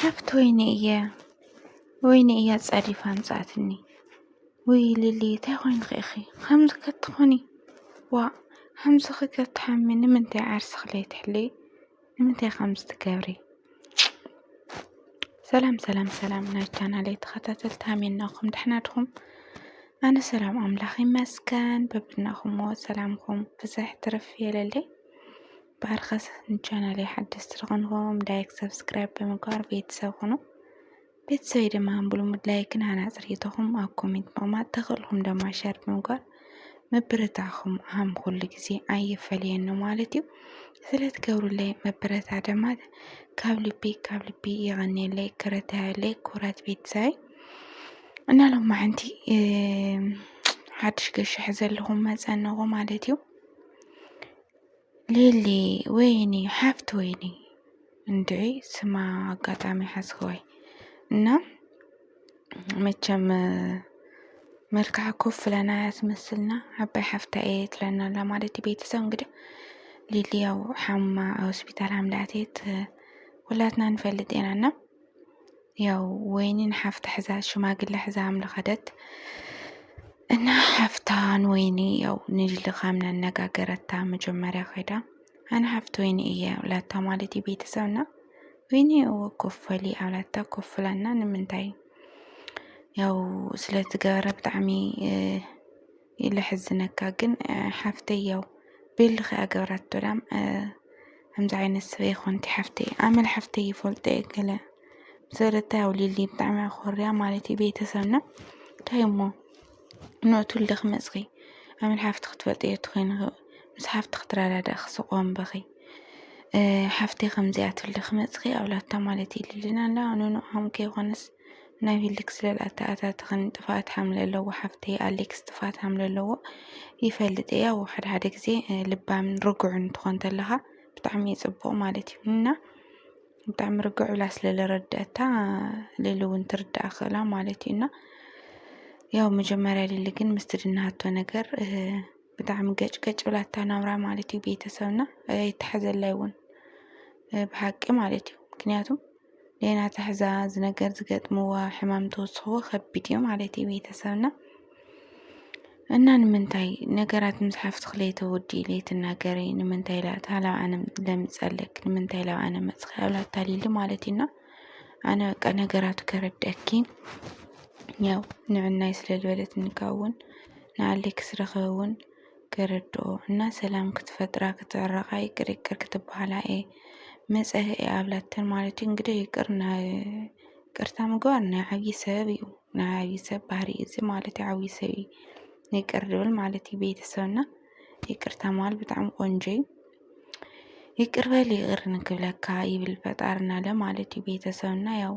ሓፍት ወይኒ እየ ወይኒ እያ ጸዲፋ ኣምጻኣትኒ ውይ ሊሊ እንታይ ኮይንኺ ኢኺ ከምዚ ከትኾኒ ዋ ከምዚ ከተሓሚ ንምንታይ ዓርስኺ ለይትሕሊ ንምንታይ ከምዚ ትገብሪ ሰላም ሰላም ሰላም ናይ ቻናለይ ተኸታተልቲ ሃሜናኹም ደሕና ድኹም ኣነ ሰላም ኣምላኽ ይመስገን በብናኹምዎ ሰላምኩም ብዝሕ ትርፍ የለለይ ባርኸስ ንቻናለይ ሓደስቲ ዝኾንኩም ላይክ ሰብስክራይብ ብምግባር ቤተሰብ ኹኑ ቤተሰበይ ድማ ብልሙድ ላይክን ሃናፂ ርኢቶኹም ኣብ ኮሜንት ምቕማጥ ተኽእልኩም ድማ ሸር ብምግባር ምብርታዕኹም ሃም ኩሉ ግዜ ኣይፈለየኒ ማለት እዩ ስለትገብሩለይ መበረታ ድማ ካብ ልቢ ካብ ልቢ የቐንየለይ ክረታየለይ ኩራት ቤተሰበይ እና ሎማ ሓንቲ ሓድሽ ገሻሕ ዘለኹም መፀንኹ ማለት እዩ ሊሊ ወይኒ ሓፍት ወይኒ እንዲ ስማ ኣጋጣሚ ሓዝክወይ እና መቸም መልክዓ ኮፍ ለና ያስመስልና ዓባይ ሓፍታ እየ ትለና ኣላ ማለት እዩ ቤተሰብ እንግዲህ ሊሊ ያው ሓማ ሆስፒታል ሃምልኣትት ሁላትና ንፈልጥ ኢና እና ያው ወይኒ ንሓፍታ ሕዛ ሽማግለ ሕዛ ኣምለ ከደት እና ሓፍታ ንወይኒ ያው ንልኻም ነነጋገረታ መጀመሪያ ከይዳ ኣነ ሓፍቲ ወይኒ እየ ብላታ ማለት እዩ ቤተሰብና ወይኒ እወ ኮፈሊ ኣብላታ ኮፍላና ንምንታይ ያው ስለዝገበረ ብጣዕሚ ለሕዝነካ ግን ሓፍተይ ያው ቤልኺ እያ ገብራቶ ዳም ከምዚ ዓይነት ሰብ ኣይኮንቲ ሓፍተይ ኣመል ሓፍተይ ይፈልጦ እየ ገለ ሰረታ ያው ሊሊ ብጣዕሚ እያ ኮርያ ማለት እዩ ቤተሰብና እንታይ እሞ ንእቱ ልደ ክመፅኺ ኣመል ሓፍቲ ክትፈልጥ እየ ትኮይን ምስ ሓፍቲ ክትረዳዳእ ክስቆም በኺ ሓፍተይ ከምዚኣ ትልደ ክመፅኺ ኣብላታ ማለት እዩ ልልና ኣላ ንንኦም ከይኮነስ ናይ ሊክስ ለል ኣተኣታትኽን ጥፍኣት ሓምሊ ኣለዎ ሓፍተይ ኣሊክስ ጥፍኣት ሓምሊ ኣለዎ ይፈልጥ እየ ያው ሓደ ሓደ ግዜ ልባምን ርጉዕን ትኾን ተለኻ ብጣዕሚ እዩ ፅቡቕ ማለት እዩ እና ብጣዕሚ ርግዕ ኢላ ስለ ዝረደአታ ሊሊ እውን ትርዳእ ክእላ ማለት እዩ እና ያው መጀመርያ ሊሊ ግን ምስ ትድናሃቶ ነገር ብጣዕሚ ገጭ ገጭ ብላታ ናብራ ማለት እዩ ቤተሰብና ኣይተሓዘላይ እውን ብሓቂ ማለት እዩ ምክንያቱም ሌና ትሕዛ እዚ ነገር ዝገጥምዋ ሕማም ተወስኽዎ ከቢድ እዩ ማለት እዩ ቤተሰብና እና ንምንታይ ነገራት ምስ ሓፍትኽ ለይተወዲ ለይትናገሪ ንምንታይ ኢላ እታ ላብ ኣነ ለምፀለክ ንምንታይ ላብ ኣነ መፅኺ ኣብላ ኣታሊሉ ማለት እዩና ኣነ በቃ ነገራቱ ከረድአኪ ያው ንዕናይ ስለ ዝበለት እንካውን ንኣሌክስ ረኸበ እውን ገረዶኦ እና ሰላም ክትፈጥራ ክትዕረቃ ይቅር ይቅር ክትበሃላ እየ መፀ እየ ኣብላተን ማለት እዩ እንግዲህ ይቅር ቅርታ ምግባር ናይ ዓብዪ ሰብ እዩ ናይ ዓብዪ ሰብ ባህሪ እዚ ማለት እዩ ዓብዪ ሰብ እዩ ይቅር ድብል ማለት እዩ ቤተሰብና ይቅርታ መሃል ብጣዕሚ ቆንጆ እዩ ይቅር በል ይቅር ንክብለካ ይብል ፈጣርና ለ ማለት እዩ ቤተሰብና ያው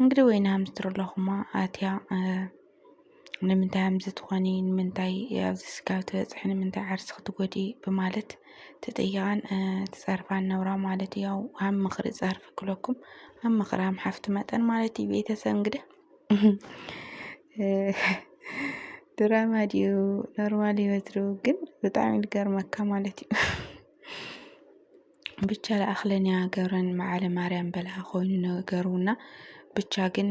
እንግዲህ ወይን ሃምስትር ኣለኹማ ኣትያ ንምንታይ ሃምዚ ትኾኒ ንምንታይ ኣብዚ ስጋብ ትበጽሒ ንምንታይ ዓርሲ ክትጎዲ ብማለት ትጥይቃን ትጸርፋን ነብራ ማለት እዩ። ያው ኣብ ምኽሪ ጸርፊ ክለኩም ኣብ ምኽሪ ሃም ሓፍቲ መጠን ማለት እዩ። ቤተሰብ እንግዲህ ድራማ ድዩ ኖርማል ህይወት ድዩ ግን ብጣዕሚ ዝገርመካ ማለት እዩ። ብቻ ለኣክለንያ ገብረን መዓለ ማርያም በልዓ ኮይኑ ነገሩና ብቻ ግን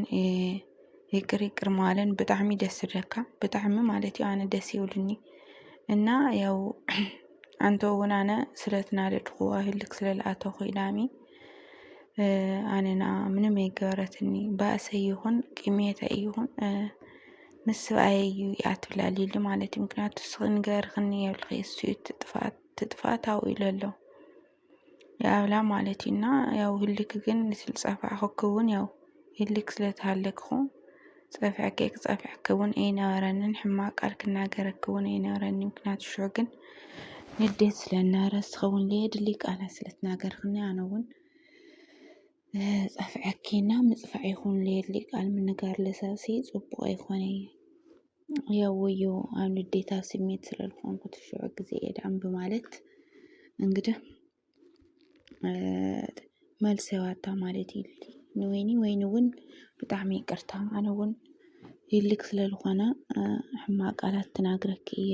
ይቅር ይቅር መባለን ብጣዕሚ ደስ ዝብለካ ብጣዕሚ ማለት እዩ ኣነ ደስ ይብሉኒ እና ያው ኣንተ እውን ኣነ ስለትናደድኹ ኣብ ህልክ ስለልኣተኹ ኢላሚ ኣነ ንኣ ምንም ኣይገበረትኒ ባእሰይ ይኹን ቅምየተይ ይኹን ምስ ሰብኣየይ እዩ እያ ትብላ ሊሊ ማለት እዩ ምክንያቱ ንስኺ ንገርክኒ የብልኺ እሱ እዩ እቲ ጥፍኣት ትጥፋ ታው ኢሎ ኣሎ ያብላ ማለት እዩ እና ያው ህልክ ግን ንስል ጸፋዕኸኪ እውን ያው ህልክ ስለ ተሃለኪ ኹን ጸፍዐኪ ክጸፍዐኪ እውን ኣይነበረንን ሕማቅ ቃል ክናገረኪ እውን ኣይነበረኒ ምክንያቱ ሽዑ ግን ንዴት ስለ ዝነበረ ንስኺ እውን ዘየድሊ ቃላት ስለ ትናገርክኒ ኣነ እውን ጸፍዐኪ እና ምጽፋዕ ይኹን ዘየድሊ ቃል ምንጋር ለሰብሲ ጽቡቅ ኣይኮነይ። ያወዮ ኣብ ንዴታ ስሜት ስለልኮንኩት ሽዑ ግዜ እየ ድኣም ብማለት እንግዲህ መልሲ ዋታ ማለት ኢሉ ንወይኒ ወይኒ እውን ብጣዕሚ ይቅርታ ኣነ እውን ይልክ ስለልኾነ ሕማቅ ቃላት ተናግረኪ እየ።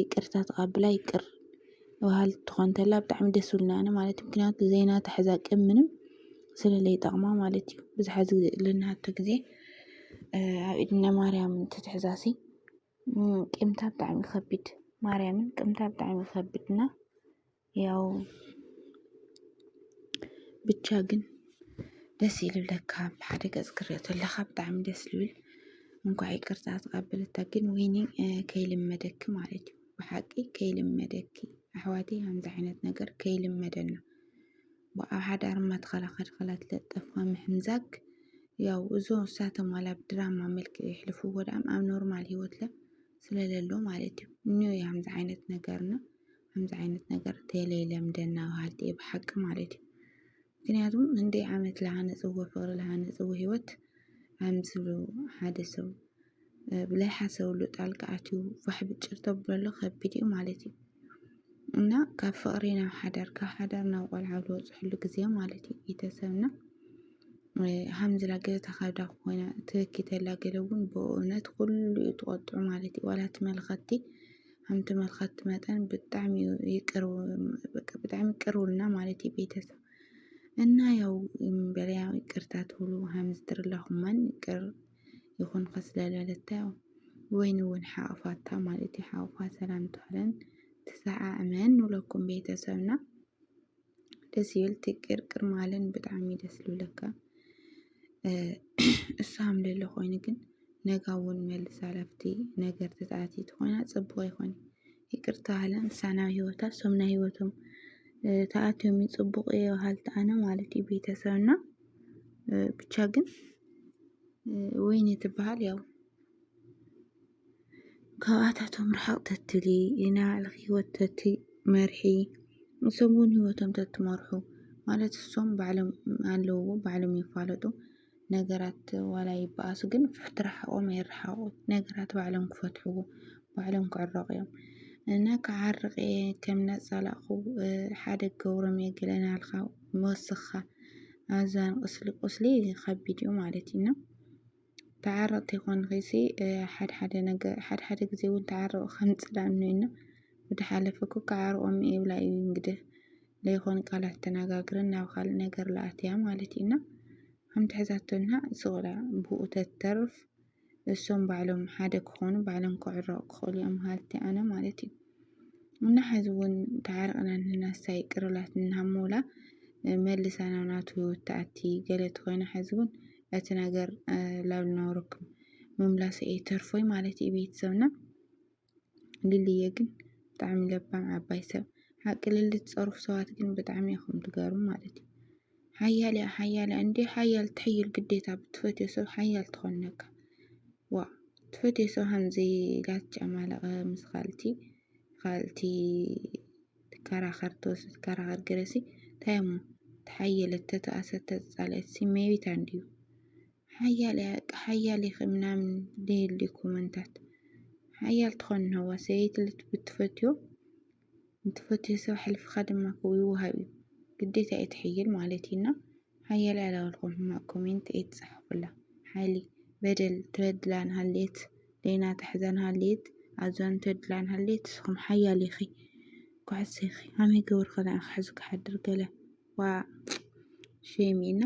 ይቅርታ ተቃብላ ይቅር በሃልቲ ትኾን ተላ ብጣዕሚ ደስ ዝብሉኒ ኣነ ማለት እዩ ምክንያቱ ዘይናታ ሕዛ ቅም ምንም ስለለይጠቅማ ማለት እዩ ብዝሓ ልናሃቶ ግዜ ኣብ ኢድነ ማርያም እንትትሕዛሲ ቂምታ ብጣዕሚ ይኸብድ ማርያምን ቅምታ ብጣዕሚ ይኸብድ እና ያው ብቻ ግን ደስ ይልብለካ ብሓደ ገፅ ክሪኦ ተለካ ብጣዕሚ ደስ ዝብል እንኳዕ ይቅርታ ተቀበለታ ግን ወይኒ ከይልመደኪ ማለት እዩ ብሓቂ ከይልመደኪ ኣሕዋቲ ከምዚ ዓይነት ነገር ከይልመደና ብኣብ ሓዳር ማተኸላኸል ኸላት ለጠፋ ምሕምዛግ ያው እዞ እሳቶም ዋላ ብድራማ መልክ ይሕልፉ ወድኣም ኣብ ኖርማል ህይወት ለ ስለለሎ ማለት እዩ እኒ ከምዚ ዓይነት ነገርና ከምዚ ዓይነት ነገር ቴሌ ለምደና በሃልቲ እየ ብሓቂ ማለት እዩ። ምክንያቱ እንድይ ዓመት ዝሃነፅዎ ፍቅሪ ዝሃነፅዎ ሂወት ከምዚ ሓደ ሰብ ብለይሓሰብሉ ጣልቃ ኣትዩ ፋሕ ብጭር ተብለሉ ከቢድ እዩ ማለት እዩ። እና ካብ ፍቅሪ ናብ ሓዳር ካብ ሓዳር ናብ ቆልዓ ዝበፅሕሉ ግዜ ማለት እዩ ቤተሰብና ሃምዚ ላገለ ተካብዳ ኮይና ትበኪ ተላ ገለ እውን ብእውነት ኩሉ እዩ ትቆጥዑ ማለት እዩ ዋላ እቲ መልከቲ ከምቲ መልከቲ መጠን ብጣዕሚ ይቅር በቃ ብጣዕሚ ቅር ውልና ማለት እዩ ቤተሰብ እና ያው በለያ ይቅርታ ትብሉ ሃምዝትር ላኹመን ይቅር ይኹን ከስለለለታ ያው ወይን እውን ሓቕፋታ ማለት እዩ ሓቕፋ ሰላም ትብለን ትሰዓዕመን ንብለኩም ቤተሰብና ደስ ይብል ትቅር ቅር ማለን ብጣዕሚ ደስ ልብለካ እሱ ሃምለሎ ኮይኑ ግን ነጋ እውን መልስ ሃላፍቲ ነገር ተፃእቲ ትኾና ፅቡቅ ይኾን ይቅርታ ሃለን ሳናብ ህይወታ እሶም ናይ ህይወቶም ተኣትዮም ፅቡቅ እዮ ሃልቲ ኣነ ማለት እዩ ቤተሰብና ብቻ ግን ወይኒ ትበሃል ያው ካብኣታቶም ርሕቕ ተትሊ ናይ ባዕልኺ ሂወት ተትመርሒ ንሶም ውን ሂወቶም ተትመርሑ ማለት ንሶም ባዕሎም ኣለውዎ ባዕሎም ይፋለጡ ነገራት ዋላ ይበኣሱ ግን ትርሓቖም ኣይርሓቖም ነገራት ባዕሎም ክፈትሕዎ ባዕሎም ክዕረቑ እዮም እና ክዓርቕ እየ ከም እናፃላእኹ ሓደ ክገብሮም እየ ገለ እናበልካ ምውስኽኻ ኣዛ ቁስሊ ቁስሊ ከቢድ እዩ ማለት እዩ እና። ተዓረቕቲ ኮንኺሲ ሓድሓደ ነገር ሓድሓደ ግዜ እውን ተዓረቑ ከምፅላእ እኒኦ እና ወደ ሓለፈ እኮ ክዓርቖም እየ ይብላ እዩ እንግዲህ ለይኾን ቃላት ተነጋግረን ናብ ካልእ ነገር ለኣትያ ማለት እዩ እና ከምቲ ሕዛቶና ስቕላ ብኡ ተተርፍ እሶም ባዕሎም ሓደ ክኾኑ ባዕሎም ክዕረቑ ክኽእሉ እዮም ሃልቲ ኣነ ማለት እዩ እና ሐዚ እውን ተዓርቅና እኒሀና ንሳ ይቅር በላት እናሃመውላ መልሳ ናብ ናቱ ህይወት ትኣቲ ገለ ተኾይና ሐዚ እውን እቲ ነገር ላብ ልናውረኩም ምምላሰ እየ ተርፎይ ማለት እዩ ቤተሰብና ልልየ ግን ብጣዕሚ ለባም ዓባይ ሰብ ሓቂ ልሊ ትፀርፉ ሰባት ግን ብጣዕሚ ኢኹም ትገርሙ ማለት እዩ ሓያል እያ ሓያል እያ እንዴ ሓያል ትሕይል ግዴታ ብትፈትዮ ሰብ ሓያል ትኾነካ ዋ ትፈትዮ ሰብ ሃምዚ ላት ጨማለቐ ምስ ኻልቲ ኻልቲ ትከራኸር ተወስ ትከራኸር ገለሲ እንታይ እሞ ተሓየለት ተተኣሰት ተጻልአት ሲሜቢት እንዲዩ ሓያል እያ ሓያል ኢኺ ምናምን ድይልዩ ኮመንታት ሓያል ትኾን ነዋ ሰበይቲ ብትፈትዮ ንትፈትዮ ሰብ ኣሕልፍካ ድማ ይውሃብ እዩ ግዴታ እዩ ትሕይል ማለት እዩ እና ሓያለ ኣላውልኩም ሕማቅ ኮሜንት ኣይትጽሓፉላ ሓይሊ በደል ተድላ እንሃልየት ሌና ትሕዛ እንሃልየት ኣዟን ተድላ እንሃልየት ንስኩም ሓያል ኢኪ ኩሕሲ ኢኪ ከመይ ገብርኩ ንዓኪ ክሕዝ ክሓድር ገለ ዋእ ሼም እዩ እና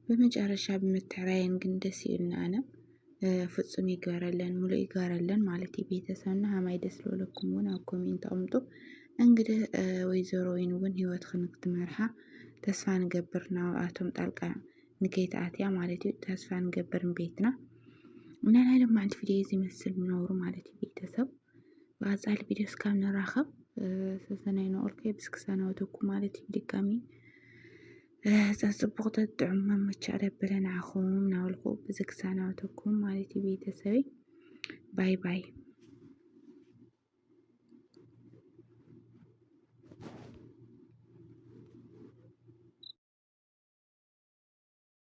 በመጨረሻ ብምትዕራየን ግን ደስ ይልና ኣነ ፍፁም ይግበረለን ሙሉ ይግበረለን ማለት እዩ። ቤተሰብና ሀማይ ደስ ለለኩም እውን ኣብ ኮሜንት ኣምጡ። እንግዲህ ወይዘሮ ወይን እውን ህይወት ክንክትመርሓ ተስፋ ንገብር ናብኣቶም ጣልቃ ንከይትኣትያ ማለት እዩ። ተስፋ ንገብርን ቤትና እና ናይ ሎማዓንቲ ቪድዮ እዚ መስል ምነብሩ ማለት እዩ ቤተሰብ ብቐፃሊ ቪድዮ እስካብ ንራኸብ ሰሰናይ ንኦልከ ብስክ ሰናወተኩ ማለት እዩ ድጋሚ ፀፅቡቕ ተጥዑም መመቻ ደበለ ንዓኹም ናበልኩ ብዝክ ሰናወተኩም ማለት እዩ ቤተሰበይ ባይ ባይ